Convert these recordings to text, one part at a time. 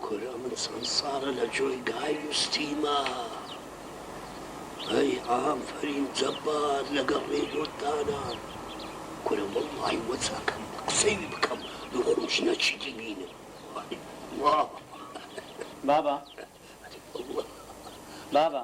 کورە من چەند ساڵە لە جۆی گای نوستیمە ئەی ئافەرین جەبار لەگەڵ ڕێدۆت دانا کورە وەڵڵاهی وە چاکەم قسەی بکەم دوو خۆش نەچیتی بینم وای وا بابە بابە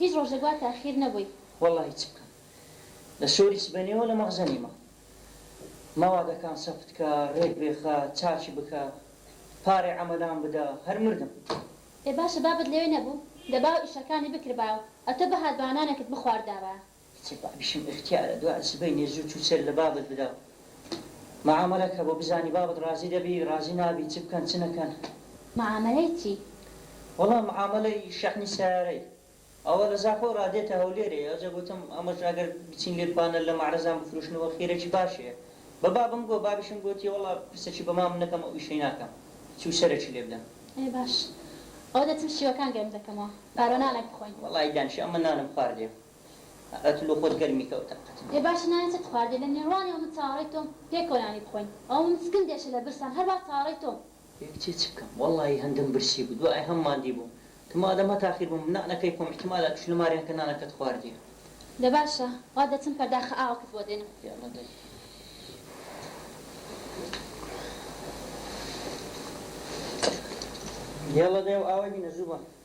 هیچ ڕۆژێک وا تاخیر نەبووی. وەڵاهی چ بکەم لە سۆری سبەینێوە لە مەغزە نیمە ماوا دەکان سەفت کە ڕێک بێخە چاکی بکە پارەی عەمەلان بدە هەر مردم. ئێ باشە بابت لەوێ نەبوو دەبا و ئیشەکانی بکردبا و ئەتۆ بهاتبا و نانەکت بخواردابا. کچێ بابیشم ئیختیارە دوای سبەینێ زوو چوو سەر لە بابت بدا و معامەلە کە بۆ بزانی بابت ڕازی دەبی ڕازی نابی چ بکەن چ نەکەن. معامەلەی چی؟ وەڵا معامەلەی شەحنی سەیارەی ئەوە لە زاخۆ ڕا دێتە هەولێرێ ئەوجە گۆتم ئەمەش ئەگەر بچین لێ پانەل لە مەعرەزان بفروشنەوە خێرێکی باشێ بە بابم گۆ بابیشم گۆتی وەڵا پرسەکی بە مامم نەکەم ئەو ئیشەی ناکەم چوو سەرەکی لێ بدەم. ئەی باش ئەوە دەچم شیوەکان گەرم دەکەمەوە پارۆ نانێک بخۆین. وەڵای دانیشە ئەمن نانم خواردێ. قەتلو خۆت گەرمی کەوتە قەتل. ئێ باشە نانی چەت خواردیە لە نێروانیەوە من چاوەڕێی تۆم پێکەوە نانی بخۆین ئەوە من سکم دێشە لە برسان هەر وا چاوەڕێی تۆم. ئێ کچێ چ بکەم وەڵاهی هەندم برسی بوو دوای هەم ماندی بووم تۆ مادەم هەتا خیر بووم نانەکەی خۆم ئیحتیمالە توش نەماریان کە نانەکەت خواردیە. دە باشە وا دەچم پەرداخە ئاوەکت بۆ دێنم. یەڵا دەرێ. یەڵا دەیە و ئاوای بینە زوو بە.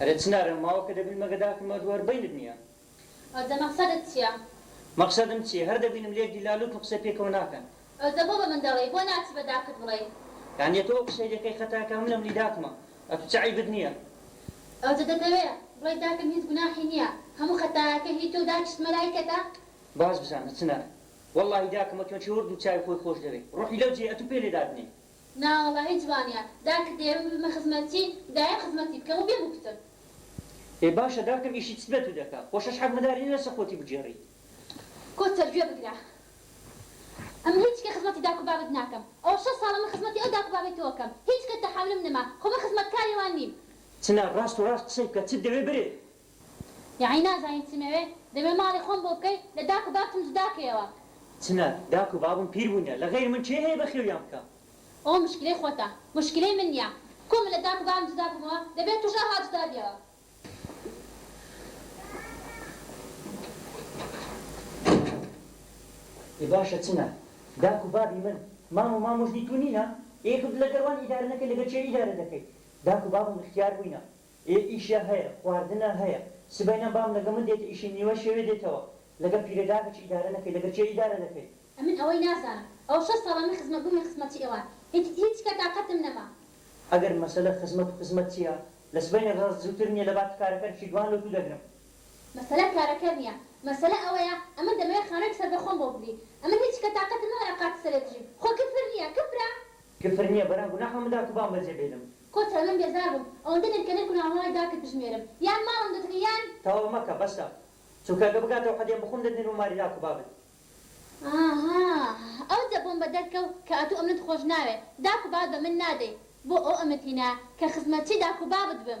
ئەرێ چنارم ماوە کە دەبینمە گەداکم مەرد وەر بەینت نیە. ئەو دە مەقسەدت چیە؟ مەقسەدم چیە هەر دەبینم لێک دیلا لووتن قسەی پێکەوە ناکەن. ئەو دە بۆ بە من دەڵێی بۆ ناچی بە داکت بڵێی. یانی ئەتو ئەو قسەی دەکەی خەتای کە منە منی داکمە ئەتو چ عەیبت نیە. ئەو دە دەتەوێ بڵێی داکم هیچ گوناحی نیە هەموو خەتایەکە هی تۆو داکیشت مەلایکەتە. باش بزانە چنار وەڵاهی داکم ئەتوێ چەوەر دوو چاوی خۆی خۆش دەوێ ڕۆحی لەو جێ ئەتوو پێ لێ دادنێی. نا وەڵاهی جوانە داکت دەیەوێ ببمە خزمەتچی دایە خزمەتی بکەم و بێ موکتم. ئێ باشە داکم ئیشی چت بێ تو دەکا خۆ شەش حەک مداری نیە لەسە خۆتی بگێڕی. کۆ سەر گوێ بگرە ئەمن هیچ کە خزمەتی داکو بابت ناکەم ئەوە شەش ساڵە من خزمەتی ئەو داکو بابەی تۆ ئەکەم هیچ کەت تەحاملم نەما خۆ من خزمەت کاری وان نیم. چ نا ڕاست و ڕاست قسەی بکە چت دەوێ برێ یەعنی نازانی چیم ئەوێ؟ دەمێ ماڵی خۆم بۆ بکەی؟ لە داک و بابتم جودا کەیەوە. چنە؟ داک و بابم پیر بوونە، لە غەیر من کێ هەیە بەخێویان بکا؟ ئەوە مشکلەی خۆتە، مشکلەی من نیە. کو من لە داک و بابم جودا بوومەوە؟ دەبێ توش ئاوا جودا بیەوە. ئێ باشە چنە؟ داک و بابی من، مام و ماموژنی تو نینە؟ ئێ گو لەگەر وان ئیدارە نەکەی لەگەر کێ ئیدارە دەکەی؟ داک و بابم ئختیار بووینە، ئێ ئیشە هەیە خواردنە هەیە سبەینە بام لەگە من دێتە ئیشی نیوە شەوێ دێتەوە لەگە پیرە داکە چ ئیدارە نەکەی لەگە کێ ئیدارە دەکەی. ئەمن ئەوەی نازانم ئەوە شەش ساڵە من خزمەت بوومی خزمەتی ئێوان هیت هیچ کە تاقەتم نەما. ئەگەر مەسەلە خزمەت و خزمەت چیە لە سبەینە ڕاست زووتر نیە لەباتی کارەکەر بچی گوان لۆ تو دەگرم. مەسەلە کارەکەر نیە مەسەلە ئەوەیە ئەمن دەمەوێ خانویک سەر بەخۆم بۆ بگری ئەمن هیچ کە تاقەتم نەما لە قاتی سەرێ بژیم خۆ کفر نیە کفرە؟ کفر نیە بەران گوناحە من داکوبام بەجێ بێلم کۆتە من بێزار بووم ئەوەندە نرکەنرک و ناوەڕای داکت بژمێرم یان ماڵم دەدڕی یان. تەواو مەکە بەسە چونکە گە بگاتەوە حەدێم بخوم دەتنێرم و ماری داکو بابت. ئاها ئەو جە بۆمبە دەرکەو کە ئەتو ئەمنت خۆش ناوێ داکو بابت بە من نادەی بۆ ئەو ئەمنت هینا کە خزمەتچی داکو بابت بم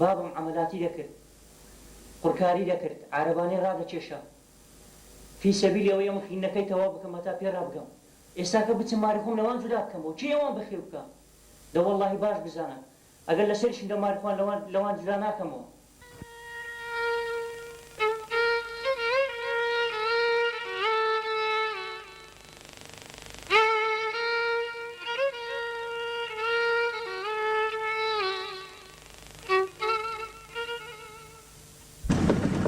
بابم عەمەلاتی دەکرد قڕکاری دەکرد عارەبانەی ڕادەکێشا فی سەبیلی ئەوەی ئەم خویندنەکەی تەواو بکەم هەتا پێ ڕابگەم ئێستاکە بچم ماری خۆم لەوان جودا بکەمەوە کێ ئەوان بەخێو بکا دە وەڵاهی باش بزانە ئەگەر لەسەریشم دە ماری خۆم لەوان لەوان جودا ناکەمەوە.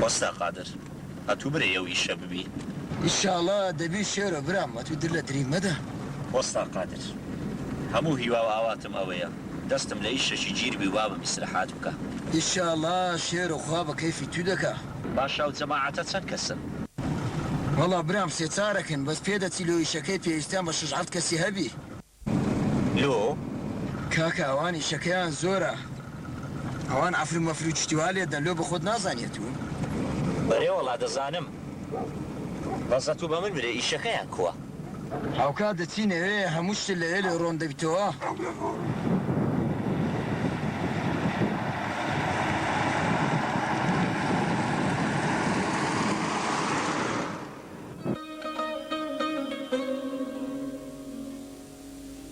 وەستا قادر ئەتوو برەی ئەو ئیشە ببی. ئیشاڵا دەبی شێرۆ برام ئەتوو در لە دری مەدە. وەستا قادر هەموو هیوا و ئاواتم ئەوەیە دەستم لە ئیشەکی جیر بی و بابم ئیسرەحات بکا. ئیشاڵا شێرۆ خوا بە کەیفی توو دەکا. باشە ئەو جەماعەتە چەند کەسن؟ وەڵا برام سێ چارەکن بەس پێدەچی لۆ ئیشەکەی پێویستیان بە شەش حەفت کەسی هەبی. لۆ؟ کاکە ئەوان ئیشەکەیان زۆرە ئەوان عەفرو مەفرو چشتی وا لێدەن لۆ بەخۆت نازانی ئەتوو. بەرێ وەڵا دەزانم بەس ئەتوو بەمن برێ ئیشەکەیان کوە. هاوکات دەچینە وێ هەموو شت لەوێ لێ ڕۆن دەبیتەوە.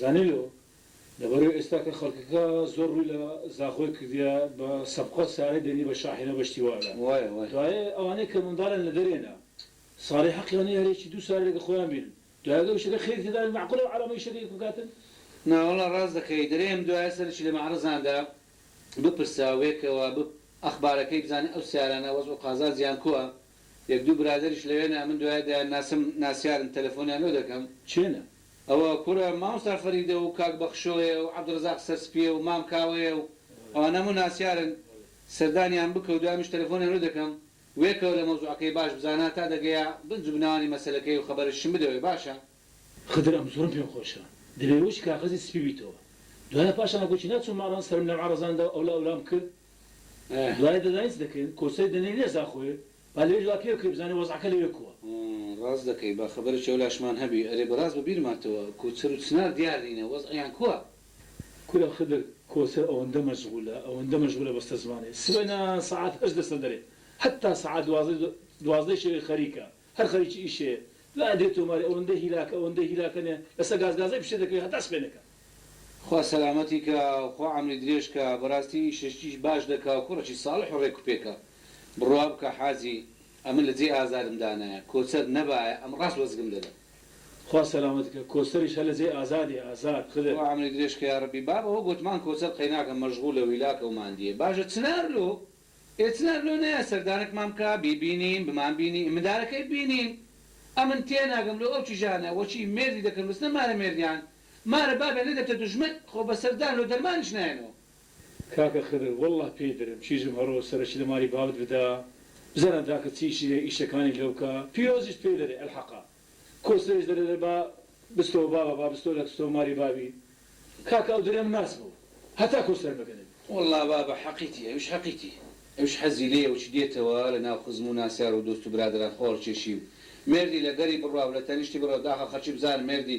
زانیلۆ، لەبەرەو ئێستا کە خەڵکەکە زۆر ڕووی لە زاخۆی کردیە بە سەبقە سارەی دەنی بە شاحینە بەشتی وا ئەلات دوایێ ئەوانەی کە منداڵیان لە دەرێنە سارەی حەقیان نیە هەر یەکی دوو سارەی لەگە خۆیان بینن دوای ئەگەر ئیشەکە خێری تێدا بێت مەعقولە ئەو عەلامەی ئیشەکە یەک بکاتن؟ نا وەڵا ڕاست دەکەی دەرێم دوایێ سەرەکی لە مەعرەزان دا بپرسە وێکەوە بپ ئەخبارەکەی بزانن ئەو سارانە وەزع و قازانجیان کوە یەک دوو برادەریش لەوێنە ئەمن دوایێ دەیان ناسم ناسیارن تەلەفۆنیان لۆ دەکەم. چێنە؟ ئەوە کورە مامۆستا فەریدە و کاک بەخشۆیە و عەبدوڕەزاق سەرسپیە و مام کاوەیە و ئەوانە هەموو ناسیارن سەردانیان بکە و دوایمیش تەلەفۆنیان لۆ دەکەم وێکەوە لە مەوزوعەکەی باش بزانە تا دەگەیە بنج و بناوانی مەسەلەکەی و خەبەرشم بدەوێ باشە. خدر ئەم زۆرم پێ خۆشە دەبێ وەکی کاغەزی سپی بیتەوە دوایە پاشان وەکو چینا چووم ماڵان سەرم لەم عەڕەزان دا و ئەولا ئەولام کرد دوایە دەزانی چ دەکەین کۆسەری دەنێین لێ زاخۆێ با لەویش وا پێ بکەی بزانێ وەزعەکە لەوێ کووە. ڕاست دەکەی با خەبەرێکی ئەو لاشمان هەبی. ئەرێ بەڕاست بە بیرما تەوە کو چەر و چنار دیار نینە وەز عیان کووە؟ کورە خدر کۆسەر ئەوەندە مەشغولە ئەوەندە مەشغولە بەستە زمانێ سبەینا سەعات هەشت دەچنە دەرێ هەتا سەعات دوازدە دوازدە شەوێ خەریکە هەر خەریکی ئیشێ دوایە دێ تۆماری ئەوەندە هیلاکە ئەوەندە هیلاکە نێ لەسە گاز گازەی پشێ دەکەوێ هەتا سبێنێکە خوا سەلامەتی کا و خوا عەمری درێژ کا بەراستی ئیشەشتیش باش دەکا و کوڕەکی ساڵح و رێک و پێکە بڕوا بکە حاجی ئەمن لە جێی ئازارم دانایە کۆچەر نەبایە ئەم راست وەزگم دەدا. خوا سەلامەت کا کۆچەریش هەر لە جێی ئازادی ئازاد خدر. خوا عەمری درێژ کە یارەبی. باب ئەوە گۆتمان کۆچەر قەیناکە مەژغولە و هیلاکە و ماندیە باشە چنار لۆ ئێ چنار لۆ نایە سەردانەکمان بکا بیبینین بمان بینی ئێ مندارەکەی بینین ئەمن تێناگەم لۆ ئەو کیژانە وەکی مێردی دەکەن بچنە مارە مێردیان مارە بابە نەدەبتە دوژمن خۆ بەسەر دان و دەرمانیش نایەنەوە. کاکە خدر واللە پێی درم چی زوو هەڕۆ سەرەکی لە مالی بابت بدە بزانە داکت چی ئیشی هەیە ئیشەکانی لەو کە پیرۆزیشت پێ دەرێ الحەقە کۆسرەیش دەرێ دەرێ با بستۆ بابە با بستۆ لە تستۆ مالی بابی کاکە ئەو درێم ناس بوو هەتا کۆسرە مەگەنێ. واللە بابە حەقیتی ئەویش حەقیتی ئەویش حەزی لێیە وچ دێتەوە لە ناو خزم و ناسیار و دۆست و برادەران خۆڵ کێشی و مێردی لە گەری بڕوا و لە تەنیشتی بڕوا داخە خەرکی بزانم مێردی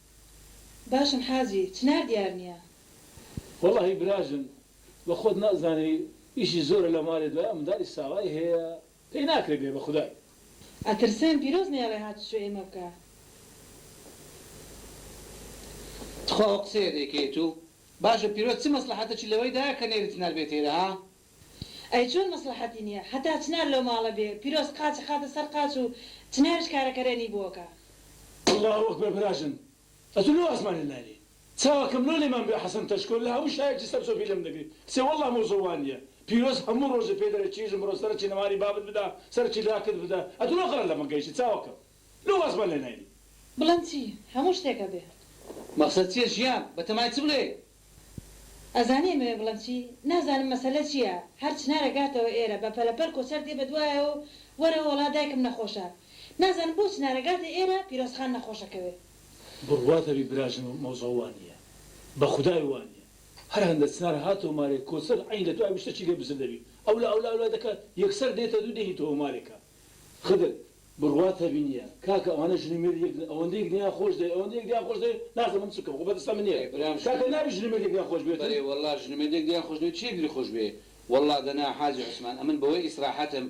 باشم حاجی چنار دیار نیە. وەڵاهی براژن بە خۆت نازانی ئیشی زۆرە لە مارێ دوای ئەو مندالی ساوای هەیە پێی ناکرێ بێ بە خودای. ئەترسێم پیرۆز نەیەڵێ هاتوچۆی ئێمە بکە. تخوا ئەو قسەیە دەیکەیت و باشە پیرۆز چ مەسڵەحەتەکی لەوەیدایە کە نێری چنار بێتە ئێرە ها؟ ئەی چۆن مەسڵەحەتی نیە هەتا چنار لەو ماڵە بێ پیرۆز قاچ ئەخاتە سەر قاچ و چنارش کارەکەرێنی بۆکە. اللە اکبر براژن ئەتو لۆ ئاسمانێ ناینی چاوەکەم لۆ لێمان بێ حسن تەشکۆ لە هەموو شایەکی سەر چۆپی لێم دەگری کچێ واللە مۆزۆ وانیە پیرۆز هەموو ڕۆژێ پێ دەرێ چیژم بڕۆ سەرەکی نەمانی بابت بدە سەرەکی لاکت بدە ئەتو لۆ قەرە لەمە گەیشی چاوەکەم لۆ ئاسمان لێ ناینی. بڵێم چی هەموو شتێکە بێ. مەقسەد چیە ژیان بەتەمای چ بڵێی. ئەزانی ئەمەوێ بڵێم چی؟ نازانم مەسەلە چییە، هەر چنار ئەگاتەوە ئێرە، بە پەلەپەل کۆچەر دێ بە دوایەوە و وەرەوە وەڵا دایکم نەخۆشە. نازانم بۆ چنار ئەگاتە ئێرە، پیرۆزخان نەخۆش ئەکەوێ. بڕوات ئەبی براژنم مەوزوع وا نییە. بە خودای وا نییە. هەر هەندە چنار هاتەوە مارێ کۆچەر عەین لە دوای وشتەکی لێ بزر دەبی. ئەولا ئەولا ئەولا دەکا یەکسەر دێتە دوو دێهیتەوە مارێکە. خدر، بڕوات هەبینیە کاکە ئەوانە ژن و مێرد یەک نین ئەوەندە یەکدیان خۆش دەوێن ئەوەندە یەکدیان خۆش دەوێن نازم من چ بکەم خۆ بەدەستە من نیە کاکە نابی ژن و مێرد یەکدیان خۆش بوێتن. بەرێ وەڵا ژن و مێرد یەکدیان خۆش دەوێن چی یەکدی خۆش بوێ وەڵا دەنا حاجی عوسمان ئەمن بەوەی ئیسراحەتم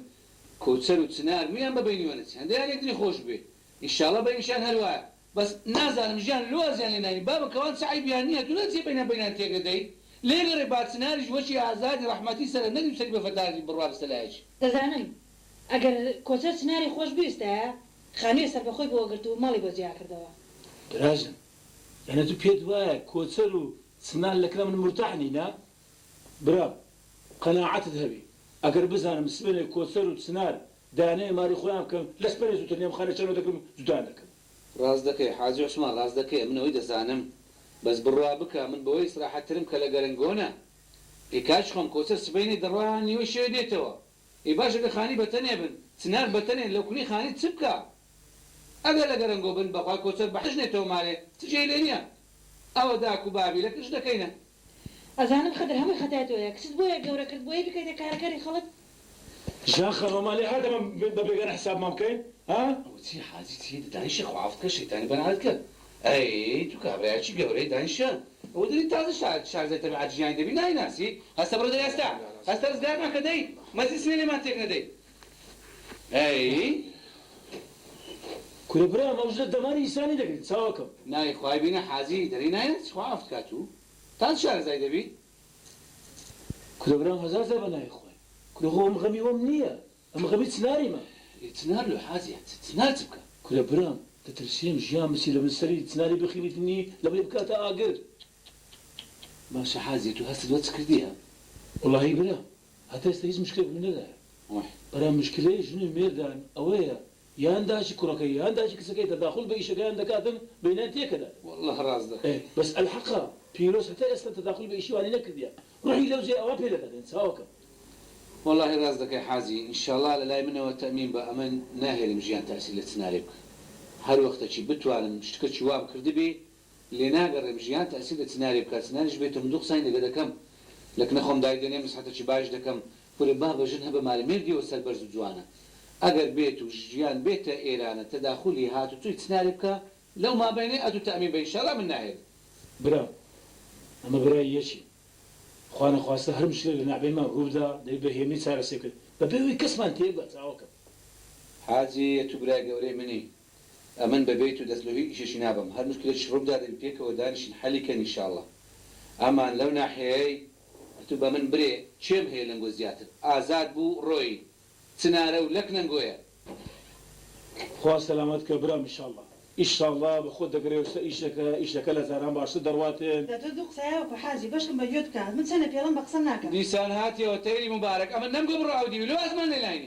کەوسەر و چنار مویان بە بەینیوە نەچی هەندەیان یەکدری خۆش بوێ ئیشاڵە بەینشیان هەر وایە بەس نازانم ژیان لۆ وازیان لێ ناین بابە کەوان چ عەیبیان نیە تۆ نەچیە بەینە بەینان تێک دەدەی لێ گەڕێ با چناریش وەکی ئازادی ڕەحمەتی سەرە نەک نوسەری بە فەتاکی بڕوا بستە لایەکی. دەزانم ئەگەر کۆچەر چناری خۆش بویستایە خانویە سەربەخۆی بۆ ئەگرت و ماڵی بۆ جیا کردەوە. براجم یانێ تو پێت وایە کۆچەر و چنار لە کنا من مورتاح نینە؟ برام قەناعەتت هەبی ئەگەر بزانم سبەینێ کۆچەر و چنار دانێ ماری خۆیان بکەن لەس پەرێ زوتر نێم خانە چەنۆ دەکرم جودان دەکەم. ڕاست دەکەی حاجی عوسمان ڕاست دەکەی من ئەوەی دەزانم بەس بڕوا بکە من بەوەی ئیسراحەت ترم کە لە گەرەنگۆنە ئێ کاج خۆم کۆچەر سبەینێ دەڕوا نیوەی شەوێ دێتەوە ئێ باشە گەر خانی بەتەنێ بن چ ناک بەتەنێ لەوکونی خانی چ بکا ئەگەر لە گەرەنگۆ بن بەخوای کۆچەر بەحش نێتەوە مارێ چ جێی لێ نیە ئەوە داک و بابی لە کچ دەکەینە ئەزانم خدر هەمووی خەتای تۆیە کچت بۆیە گەورە کرد بۆیی بکەیتە کارە کەری خەڵک. ژیان خان وەمان لێ هات ئەمە بە بێگانە حسابمان بکەین ها. ئەوە چیە حاجی چی دە دانیشە خوافت کە شەیتانی بەرانت کرد ئەی تو کابرایەکی گەورەی دانیشە ئەوە دەری تازە شا شارزای تەبیعەت ژیانی دەبی نایناسی هەستە بڕۆ دەرێ هەستە هەستە ڕزگارمان کە دەی مەجلیس نیە لێمان تێک نەدەی کورە برام ئەو ژنە دەماری ئیسانی دەگری چاوە کەم. ناوی خوای بینە حاجی دەری نایەت خوا عەفت کات و تان شارەزای دەبی. کورە برام هەزار جار بە ناوی خوای. کورە خۆ ئەم غەمی وەم نیە ئەمە غەمی چناریمە. ئی چنار لۆ حاجیە چ چنار چ بکا. کورە برام دەترسیم ژیان بچی لەبن سەری چناری بخیبیتنی لەبەری بکاتە ئاگر. باشە حاجیە تو هەستت وە چ کردیە. وەڵاهی برا هەتا ئێستا هیچ مشکلێک ڕووی نەدایە. برام مشکلەی ژن و مێردان ئەوەیە یان داکی کوڕەکەی یان داکی کچەکەی تەداخول بە ئیشەکەیان دەکاتن بەینان تێکەدات. وەللە ڕاست دەکەی. ئەێ بەس ئەلحەقە پیرۆز هەتا ئێستا تەداخول بە ئیشی وانی نەکردیە ڕۆحی لەو جێ ئەوا پێ دەگات یان چاوەکەم. وەڵاهی ڕاست دەکەی حاجی انشاڵا لە لای منەوە تەئمین بە ئەمن ناهێلم ژیان تاسیر لە چنارێ بکە هەر وەختەکی بتوانم شتکەکی وام کردبی لێناگەڕێم ژیان تەئسیر لە چنارێ بکا چناریش بێتۆ من دوو قسانی لەگە دەکەم لە کنە خۆم دایدەنێم نسحەتەکی باش دەکەم کورە بابە ژن هەبە مارە مێردیەوە سەربەرز و جوانە ئەگەر بێت و ژیان بێتە ئێرانە تەداخولی هاتوچۆی چنارێ بکا لەو مابەینەی ئەتو تەئمین بە ئینشالا من ناهێلم. برا ئەمە برای یەکی خوا نەخواستە هەر مشکلێک لە نەعبێنمان ڕووبدا دەبی بە هێمنی چارەسەرکرد بەبێ ئەوەی کەسمان تێبگا چاوەکەم. حاجی ئەتو برای گەورەی منی ئەمن بە بێت و دەست لۆ هیچ ئیشێکی نابەم هەر مشکلێک شروو بدا دەبی پێکەوە دانیشین حەلی کەن ان شاءاللە ئەمان لەو ناحیەیەی ئەتوو بە من برێ کێم هەیە لەنگۆ زیاتر ئازاد بوو ڕۆیی چنارە و لەک نەنگۆیە. خوا سەلامەت کە برام ان شاءاللە. ئیشاڵا بە خۆت دەگەرێ و سە ئیشەکە ئیشەکە لە جاران باشتر دەڕواتێ. دە تۆ دوو قسەیا وەکو حاجی بەشکم بە گوێت بکە من چەنە پێڵم بە قسەم ناکە. دیسان هاتیەوە تەیری موبارەک ئەمن نەمگۆ بڕاو دیوی لۆ ئەزمان لێ ناینی.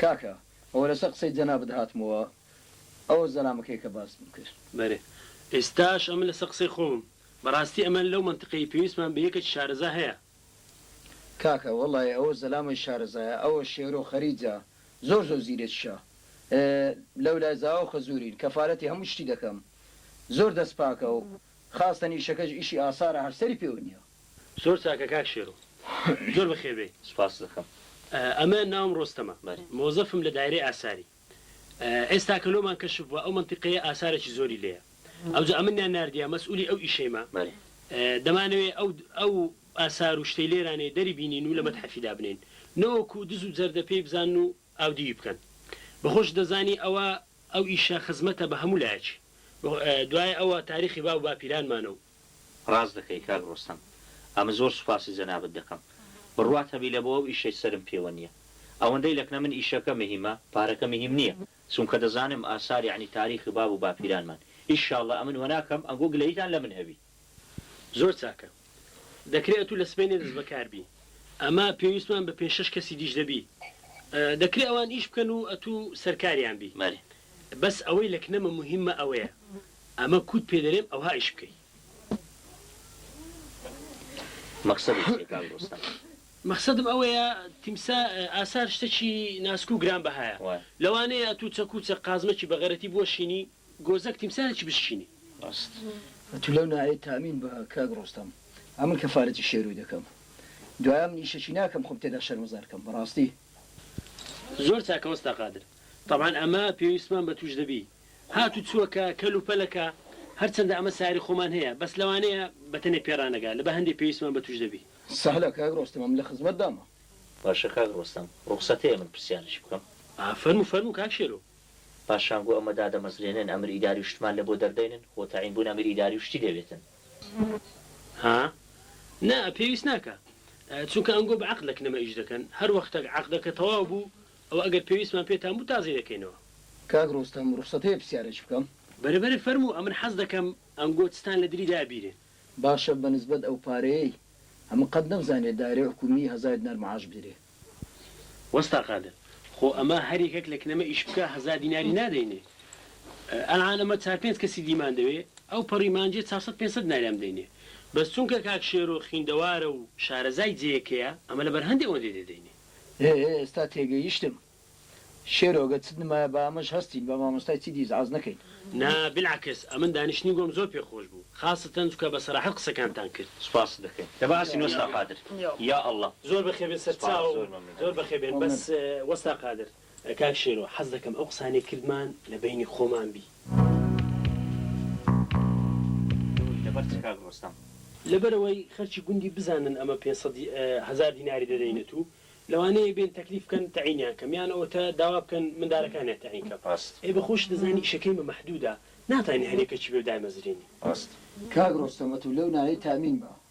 کاکە ئەوە لەسەر قسەی جەنابت هاتمەوە ئەوە زەلامەکەی کە باسم کرد. بەرێ ئێستاش ئەمن لەسەر قسەی خۆمم بەڕاستی ئەمن لەو مەنتقەی پێویستمان بە یەکێکی شارەزا هەیە. کاکە وەڵای ئەوە زەلامەی شارەزایە ئەوە شێرۆ خەریجە زۆر زۆر زیرەکیشە لەولای زاواو خەزورین کەفالەتی هەموو شتی دەکەم زۆر دەست پاکەو خاستەن ئیشەکەش ئیشی ئاسارە هەر سەری پێوە نیە. زۆر چاکە کاک شێرۆ زۆر بەخێر بێی. سوپاست دەکەم. ئەمە ناوم ڕۆستەمە. بەری. مۆزەفم لە دایرەی ئاساری. ئێستا کە لۆمان کەشف بوە ئەو مەنتیقەیە ئاسارێکی زۆری لێیە. ئەوجا ئەمنیان ناردیە مەسئولی ئەو ئیشەیمە. بەری. دەمانەوێ ئەو ئەو ئاسار و شتەی لێرانەی دەری بینین و لە مەتحەفی دابنێین. نەوەکو دز و جەردە پێی بزانن و ئاودیوی بکەن. بە خۆشت دەزانی ئەوە ئەو ئیشە خزمەتە بە هەموو لایەکی. دوایە ئەوە تاریخی باو و باپیرانمانە و. ڕاست دەکەی کاک ڕۆستەم ئەمن زۆر سوپاسی جەنابت دەکەم بڕوات هەبی لەبۆ ئەو ئیشەی سەرم پێوە نیە ئەوەندەی لەکنە من ئیشەکە مهیمە پارەکە مهیم نیە چونکە دەزانم ئاسار یەعنی تاریخی باب و باپیرانمان ان شاللە ئەمن وەناکەم ئەنگۆ گلەییتان لەمن هەبی. زۆر چاکە دەکرێ ئەتوو لە سبەینێ دەست بەکار بی ئەما پێویستمان بە پێنج شەش کەسی دیش دەبی دەکرێ ئەوان ئیش بکەن و ئەتوو سەرکاریان بی بەس ئەوەی لەکنەمە مهیمە ئەوەیە ئەمە کوت پێ دەرێم ئەوها ئیش بکەی. مەقسەد و چیە کاک ڕۆستەم. مەخسەدم ئەوەیە تیمسا ئاسار شتەکی ناسک و گران بەهایە وایە. لەوانەیە ئەتوو چەک و چە قازمەکی بەغەرەتی بوەشینی گۆزەک تیمسارێکی بشکینی. ڕاست ئەتوو لەو نایەی تامین بە کاک ڕۆستەم ئەمن کەفارەتی شێروی دەکەم دوایە من ئیشەکی ناکەم خۆم تێدا شەرمەزار کەم بەڕاستی. زۆر چاکە وەستا قادر. تەبعەن ئەمە پێویستمان بە توش دەبی. هاتوچۆکە، کەلوپەلەکە، هەرچەندە ئەمە ساری خۆمان هەیە، بەس لەوانەیە بەتەنێ پێڕانەگا، لەبە هەندێ پێویستمان بەتوش دەبی. سەهلە کاک ڕۆستەمم لە خزمەتدامە. باشە کاک ڕۆستەم ڕوخسەت هەیە من پرسیارێکی بکەم؟ فەرموو فەرموو کاک شێرۆ. پاشان گو ئەمە دادەمەزرێنن ئەمر ئیداری و شتمان لەبۆ دەردەینن خۆ تەعین بوون ئەمر ئیداری و شتی دەوێتن. ها نا پێویست ناکا چونکە ئەنگۆ بە عەقدەک نەمە ئیش دەکەن هەر وەختەک عەقدەکە تەواو بوو ئەوە ئەگەر پێویستمان پێتان بوو تازەی دەکەینەوە. کاک ڕۆستەم ڕوخسەت هەیە پسیارێک بکەم؟ بەرە بەرە فەرموو ئەمن حەز دەکەم ئەنگۆ چتان لە دری دایە بیرێ. باشە بە نسبەت ئەو پارەیەی ئەمن قەت نەمزانیە دایرەی حکومی هەزار دینار معاش بدرێ. وەستا قادر خۆ ئەمە هەر یەکەک لە کنەمە ئیش بکا هەزار دیناری نادەینێ ئەلعان ئەمە چار پێنج کەسی دیمان دەوێ ئەو پەڕی مانجێ چار سەد پێنج سەد دیناریان بدەینێ بەس چونکە کاک شێرۆ خویندەوارە و شارەزای جێیەکەیە ئەمە لەبەر هەندێ ئۆندێ دێدەینێ. هێ هێ ئێستا تێگەیشتم شێرۆ گەر چت نمایە با ئەمەش هەستین بە مامۆستای چی دیس عەز نەکەین. نا بیلعکس ئەمن دانیشتنی گۆم زۆر پێ خۆش بوو خاستەن جوکە بە سەراحەت قسەکانتان کرد. سوپاست دەکەین لە بەعسین وەستا قادر یا اللە. زۆر بەخێربێن سەرچاوم زۆر بەخێربێن بەس وەستا قادر. کاک شێرۆ حەز دەکەم ئەو قسانەی کردمان لە بەینی خۆمان بی. لەبەر چ کاک ڕۆستەم؟ لەبەرئەوەی خەرکی گوندی بزانن ئەمە پێنج سەد هەزار دیناری دەدەینت و لەوانەیە بێن تەکلیف بکەن تەعینیان کەم یان ئەوەتا داوا بکەن مندارەکانیان تەعین کەم ڕاست. ئێ بە خۆشت دەزانی ئیشەکەی مە مەحدودە ناتوانی هەر یەکەکی بێ و دایمەزرێنی. ڕاست. کاک ڕۆستەم ئەتو لەو نایەی تامین بە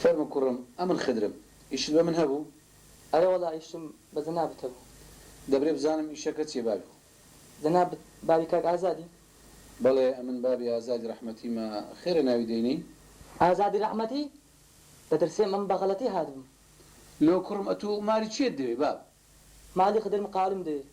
فەرموو کوڕم ئەمن خدرم. ئیشت بە من هەبوو؟ ئەرێ وەڵا ئیشم بە جەنابت هەبوو. دەبرێ بزانم ئیشەکە چیە بابی گوڵ. جەنابت بابی کاک ئازادی؟ بەڵێ ئەمن بابی ئازادی ڕەحمەتیمە، خێرە ناوی دەینێی؟ ئازادی ڕەحمەتی؟ دەترسێ من بە غەڵەتی هاتبم. لۆ کوڕم ئەتوو مالی چیت دەوێ باب؟ مالی خدرم قالم دەوێ.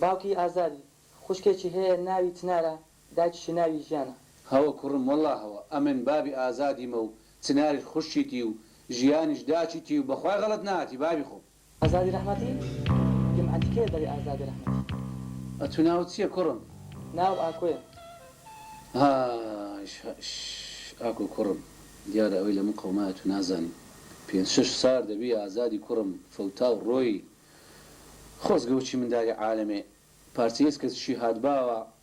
باوکی ئازادی خوشکێکی هەیە ناوی چنارە دایکیشی ناوی ژیانە. هەوە کوڕم وەڵا هەوە ئەمن بابی ئازادیمە و چناریش خوشکیتی و ژیانیش داچیتی و بەخوای غەڵەت ناتی بابی خۆم. ئازادی رەحمەتی؟ گیم عەتی کێیە دەڵی ئازادی رەحمەتی؟ ئەتوو ناوت چیە کوڕم؟ ناوم ئاکۆیە. ها ئیش ها ئیش ئاکۆ کوڕم دیارە ئەوەی لەمن قەومایە تو نازانی پێنج شەش سار دەبی ئازادی کوڕم فەوتاو ڕۆیی خۆزگە وەچی منداری عالەمێ پارچە یەسکە چشی هات باوە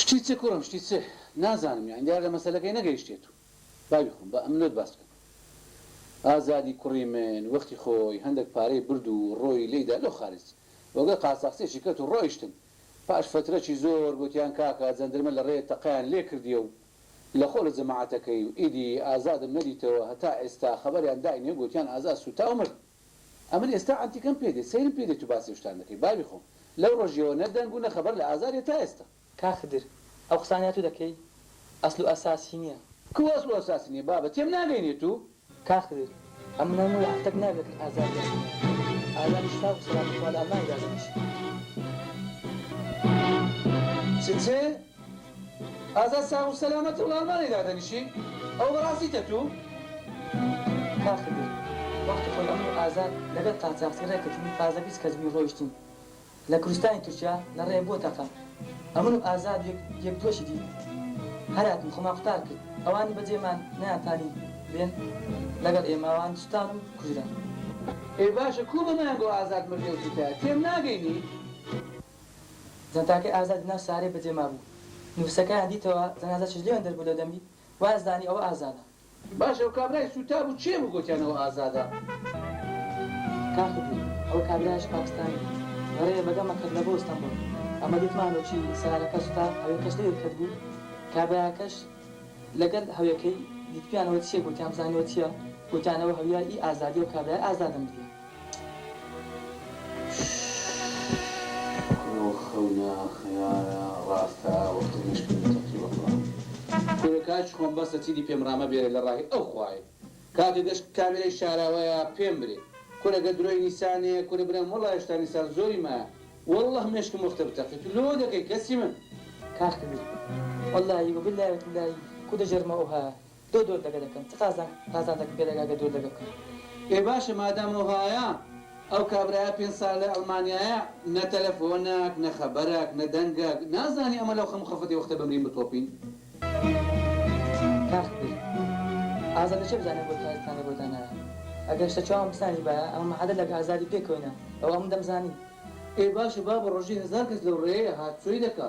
شتی چ کوڕم شتی چ؟ نازانم یانی دیارە لە مەسەلەکەی نەگەیشتێت و با بیخۆم با ئەمنۆت باس بکەم ئازادی کوڕی من وەختی خۆی هەندەک پارەی برد و ڕۆیی لێی دا لۆ خارج وەگەر قاچاخچێکی کەت و ڕۆیشتن پاش فەترەکی زۆر گۆتیان کاکە جەندرمە لە ڕێ تەقەیان لێ کردیە و لە خۆ لە جەماعەتەکەی و ئیدی ئازادم نەدیتەوە هەتا ئێستا خەبەریان داینێ گۆتیان ئازاد سوتا و مرد ئەمن ئێستا عەنتیکەم پێ دێت سەیرم پێ دێت و باسی ئەو شتان دەکەی بابی خۆم لەو ڕۆژیەوە نە دەنگ و نە خەبەر لە ئازاریە تا ئێستا. کاک خدر ئەو قسانەی تو دەکەی ئەسل و ئەساسی نیە. کوو ئەسڵ و ئەساسی نیە بابە تێم ناگەینێ تو. کاک خدر ئەم مناڵ نەوەی هەفتەک ناوی دەکرد ئازار یان سمایل ئازاری شفا و سەلامەت خوا لە ئەڵمانیدا دەنیشێ. چ چ؟ ئازاد ساغ و سەلامەت و ئەڵمانی دادەنیشی ئەوە بەڕاستی تەتو؟ کاک خدر وەختی خۆی ئەمڕۆ ئازاد لەگەڵ قاچاغچی ڕێ کەتین تازە بیست کەس بووین ڕۆیشتین لە کورستانی تورکیا لە ڕێ بۆ تەقە ئەمن و ئازاد و یەک دووەکی دی هەر هاتین خۆمان قوتار کرد ئەوانی بە جێ مان نەیان تانی بێن لەگەڵ ئێمە وان سوتان و کوژران. ئێ باشە کوو بەمەیان گۆ ئازاد مردی ئەو تورکایە تێم ناگەینی. جانتاکەی ئازاد لە ناو سارێ بە جێ مابوو. نووسەکەیان دیتەوە، جەنازە چژلێوێن دەربوو لە دەمی، وایانزانی ئەوە ئازادە. باشە ئەو کابرای سووتابوو کێ بوو گۆتیان ئەوە ئازادە؟ کاخ دوو، ئەوە کابرایەش پاکستانی بوو. بەڕێیە بە گەمە کەت لە بۆ ئستەنبوڵ. ئەمە دیتمانەوە چی سارەکە سوتا، هەوێکەش لەوێ کەت بوو. کابرایەکەش لە گەل هەوێکەی دیتبیانەوە چییە گۆتیان بزانیەوە چییە؟ گۆتیان ئەوە هەویا ی ئازادیە و کابرای ئازادە مردیە. کورە خەونە خەیالە ڕاستە وەک تەنیشت کورە تەقی وەڵا. کورە کاکی خۆم بەسە چیدی پێم ڕامە بێرێ لە ڕاهی ئەو خوایە کاکە گەر کامێرای شاراوەیە پێم برێ کورە گەر درۆی نیسانێ کورە برام وەڵا هێشتا نیسان زۆری مایە وەڵڵە مێشکم وەختە بتەقێ تو لۆ دەکەی کەسی من کاک تەنیشت وەڵایی وە بللایە تللایی کو دەجەرمە ئۆها دۆ دۆر دەگە دەکەم چ قازانک قازانجەکم پێ دەگا گەر دۆر دەگە بکەم. ئێ باشە مادام وەهایە ئەو کابرایە پێنج سالە لە ئەلمانیایە نە تەلەفۆنەک نە خەبەرەک نە دەنگەک نازانی ئەمە لەو خەم و خەفەتی وەختە بمرین بتۆپین. کاخ بیر ئازادە چێ بزانێ بۆ تا ئیستا نەبۆ تا نایە ئەگەر شتە چاوم بسانی بایە ئەمە مەحەدە لەک ئازادی پێ کەوینە ئەوە ئەمن دەم زانی. ئێ باشە بابە ڕۆژی هەزار کەس لەو ڕێیە هات چۆی دەکا.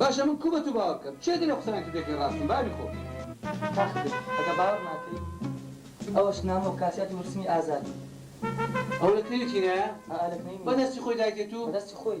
باشە من کو بەتو باوەر بکەم کێ دەلێ قسەیان کردیەتی راستن باری خۆ. تاخبێ ئەگە باوەڕ ناکەی ئەوەش نامە و کاسیاتی ورسمی ئازادی. ئەوە لە کوێنی تینایە؟ ئائا لە کوێنی. بە دەستی خۆی دایتێ تو؟ بە دەستی خۆی.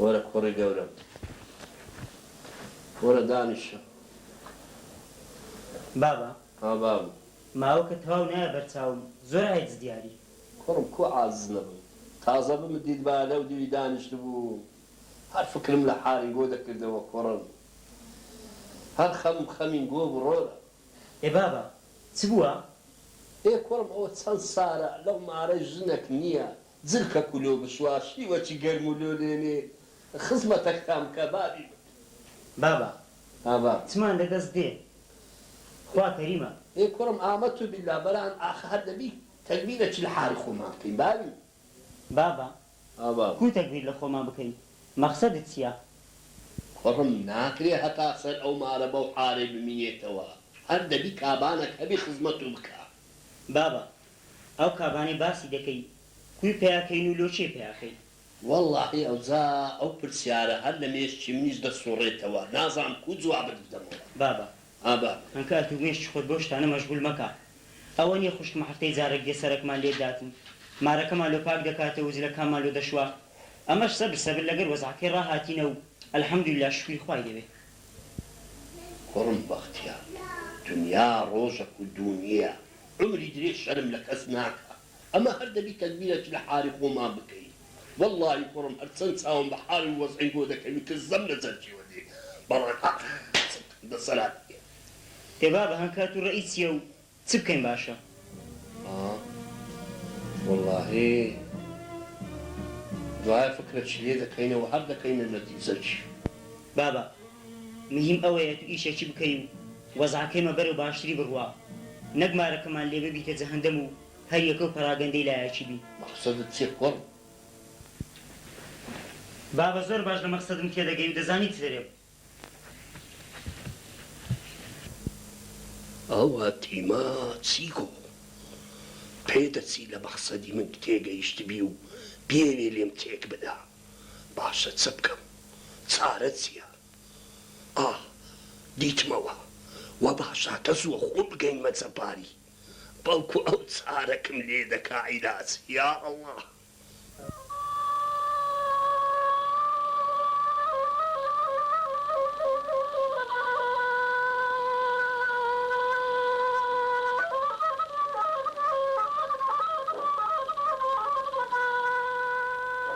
وەرە کوڕی گەورەم وەرە دانیشە. بابە. ها بابم. ماوەکە تەواو نایە بەر چاوم زۆر عاجز دیاری. کوڕم کو عاجز نەبم تازە بمت دیتبا لەو دیوی دانیشتبووم هەر فکرم لە حالین گۆ دەکردەوە کوڕم هەر خەمم خەمین گۆ بڕۆرە. ئێ بابە چ بووە؟ ئێ کوڕم ئەوە چەند سارە لەو مارەی ژنەک نییە زرکە کولۆ بسوات شیوەچ گەرم و لۆلێنێ خزمەتەکتان بکا بابی من. بابە ها باب. چمان لە دەست دێ خوا کەریمە. ئێ کوڕم ئامە تو بیلا بەران ئاخ هەر دەبی تەگبیرە چ لە حاری خۆمان بکەین بابی من. بابە ها باب. کو تەگبیر لە خۆمان بکەین مەخسەدت چیە. کوڕم ناکرێ هەتا سەر ئەو مارە بەو حارەی بمینێتەوە هەر دەبی کابانەک هەبی خزمەت و بکا. بابە ئەو کابانەی باسی دەکەی کوی پیا کەین و لۆ کێ پیا کەین؟ وەڵاهی ئەوجا ئەو پرسیارە هەر لە مێشکی منیش دەسوڕێتەوە نازانم کوو جوابت بدەمەوە. بابە ها بابە. هەنکا ئەتوو مێشکی خۆت بەو شتانە مەشغول مەکە ئەوە نیە خوشکم هەفتەی جارەک دێ سەرەکمان لێ دات و مارەکەمان لۆ پاک دەکاتەوە و جلەکانمان لۆ دەشوا ئەمەش سەبر سەبر لەگەر وەزعەکەی ڕا هاتینە و الحمدللە شوکری خوای دەبێ. کوڕم بەختیار دونیا ڕۆژەک و دوو نیە. عومری درێژ شەرم لە کەس ناکا ئەمە هەر دەبی تەدبیرەکی لە حاری خۆمان بکەی وەڵاهی کوڕم هەر چەن چاوم بە حال و وەزعی گۆ دەکەوی کە زەم لە جەرگیوە دێ بەڵام ئاخ چەن کەم دەسەلات نیە. ئێ بابە هەنکات و ڕەئی چیە و چ بکەین باشە. ئا وەڵاهی دوایە فکرەکی لێ دەکەینەوە هەر دەکەینە نەتیجەکی. بابە مهیم ئەوەیە تو ئیشەکی بکەی و. وەزعەکەیمە بەرەو باشتری بڕوا نەک مارەکەمان لێ ببیتە جەهەندەم و هەر یەکەو پەراگەندەی لایەکی بی. مەقسەدت چیە کوڕ؟ بابە زۆر باش لە مەقسەدم تێدەگەی و دەزانی چ دەرێ. ئاوا تیما چیکۆ پێدەچی لە مەقسەدی من تێگەیشتبی و بیەوێ لێم تێکبدا باشە چبکەم چارە چیە؟ ئاه دیتمەوە وا باشە کە زووە خۆم بگەینمە جەباری بەڵکو ئەو چارەکم لێ دەکا عیلاج یا ئەڵا.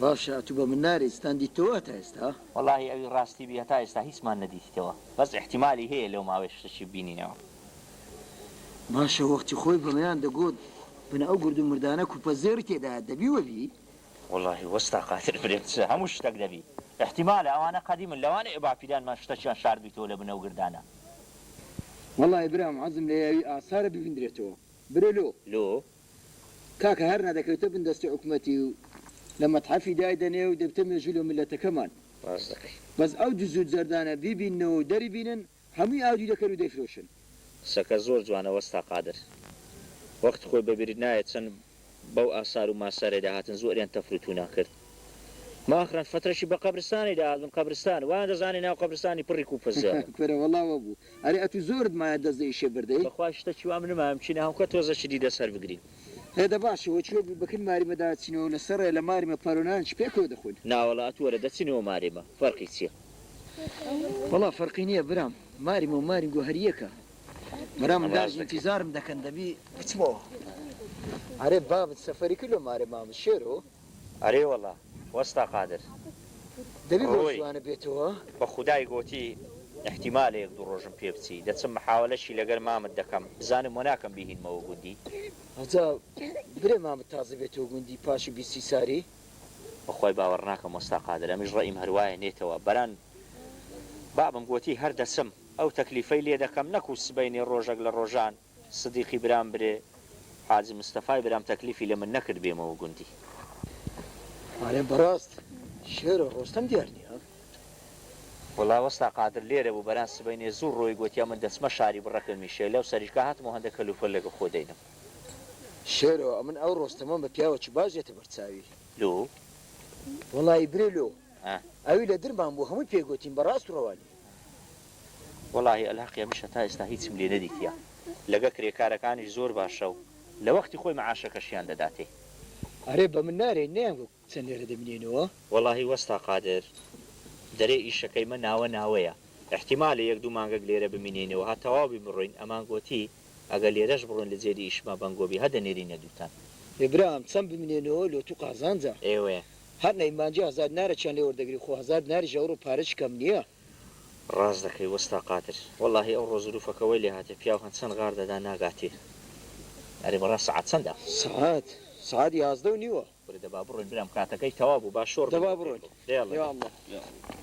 باشە ئەتو بە من نارێی ستان دیتتەوە هەتا ئێستا؟ وەڵاهی ئەوی ڕاستی بی هەتا ئێستا هیچمان نەدیتیتەوە بەس ئیحتیمالی هەیە لەو ماوەیە شتەکی ببینینەوە. باشە وەختی خۆی بەمەیان دەگۆت بنە ئەو گورد و مردانە کوپە زێڕی تێدایە دەبی وەبی؟ وەڵاهی وەستا قادر برێ بچە هەموو شتەک دەبی ئیحتیمالە ئەوانە قەدیمن لەوانەیە باپیرانمان شتەکیان شاردبیتەوە لە بنە و گردانە. وەڵاهی برام عەزم لە یاوی ئاسارە ببیندرێتەوە برۆ لۆ. لۆ کاکە هەرنا دەکەویتە بن دەستی حکومەتی و لە مەتحەفی دایدەنێ و دەبیتە مێژوو لۆ میللەتەکەمان. ڕاست دەکەی. بەس ئەو دز و جەردانە بیبیننەوە و دەریبینن هەمووی ئاودیو دەکەن و دەیفرۆشن. قسەکە زۆر جوانە وەستا قادر. وەخت خۆی بەبیرت نایەت چەند بەو ئاسار و ماسارەی داهاتن زۆریان تەفروتونا کرد. ماخرن فترەکی بە قەبرستانی داهاتبن قەبرستان وایان دەزانی ناو قەبرستانی پڕی کوپە زێڕە. کورە وەڵا وەبوو ئەرێ ئەتوو زۆرت مایە دەست لە ئیشێ بردەی. بەخوای شتەکی وام نمایە بچینە هەوکە تۆزە چ دیدە سەر بگرین. هێدە باشە وە چوە بکن ماریمە داچینەوە لە سەڕێ لە ماریمە پارۆنان چ پێکەوە دەخۆین. ناوەڵا ئەتوو وەرە دەچینەوە ماریمە فەرقی چیە. وەڵا فەرقی نیە برام ماریمە و مارینگۆ هەر یەکە برام داش ئینتیزارم دەکەن دەبی بچمەوە ئەرێ بابت سەفەری کرد لۆ مارێ مامە شێرۆ. ئەرێ وەڵا وەستا قادر. دەبی بەو ڕووی زوانە بێتەوە. بە خودای گۆتی ئیحتیمالە یەک دوو ڕۆژم پێ بچی دەچم محاوەلەشی لەگەر مامت دەکەم بزانم وە ناکەم بیهینمەوە گوندی. ئەجا برێ مامت تازە بێتەوە گوندی پاشی بیستی ساری. بەخوای باوەڕ ناکەم وەستا قادر ئەمیش ڕەئیم هەروایە نێتەوە بەران بابم گۆتی هەر دەچم ئەو تەکلیفەی لێ دەکەم نەکو سبەینێ ڕۆژەک لە ڕۆژان سدیقی برام برێ حاجی مستەفای برام تەکلیفی لە من نەکرد بێمەوە گوندی. ئەرێ بەڕاست شێر و ڕۆستەم دیار نیە؟ وەڵا وەستا قادر لێرە بوو بەران سبەینێ زوو ڕۆی گۆتیا من دەچمە شاری بڕەکەم میشێ لەو سەریشکا هاتمەوە هەندە کەل و پەل لەگە خۆ دەینم. شێرۆ ئەمن ئەو ڕۆستەمەم بە پیاوە چ باش دێتە بەر چاوی. لۆ؟ وەڵایی برێ لۆ ئەوی لە درمان بوو هەمووی پێ گۆتین بە ڕاست و ڕەوانی. وەڵاهی ئەلهەقیە منش هەتا ئێستا هیچم لێ نەدیتیە لەگە کرێکارەکانیش زۆر باشە و لە وەختی خۆی معاشەکەشیان دەداتێ. ئەرێ بە من نارێن نەیان گوت چەند لێرە دەمینێنەوە. وەڵاهی وەستا قادر دەرێ ئیشەکەی مە ناوە ناوەیە ئیحتیمالە یەک دوو مانگەک لێرە بمینێنەوە هە تەواو بی بڕۆین ئەمان گۆتی ئەگە لێرەش بڕۆن لە جێدی ئیشما بەنگۆ بی هە دەنێرینە دووتان. ئێ برام چەند بمینێنەوە لۆ تو قازانجە. ئێوە هەر نەی مانجی هەزار دینارە چەند لێ وەردەگری خۆ هەزار دیناریش ئەوڕۆ پارەچ کەم نیە. ڕاست دەکەی وەستا قادر. وەلاهی ئەوڕۆ زروفەکە وەی لێهاتێ پیاو هەن چەند غار دەدا ناگاتێ. ئەرێ بەڕا سەعات چەندە؟ سەعات سەعات یازدەو نیوە. کورە دە با بڕۆین برام کاتەکەی تەواو بوو با شۆڕ بین بۆ پێ بڕۆ دە یاڵڵە یا اللە یا اللە.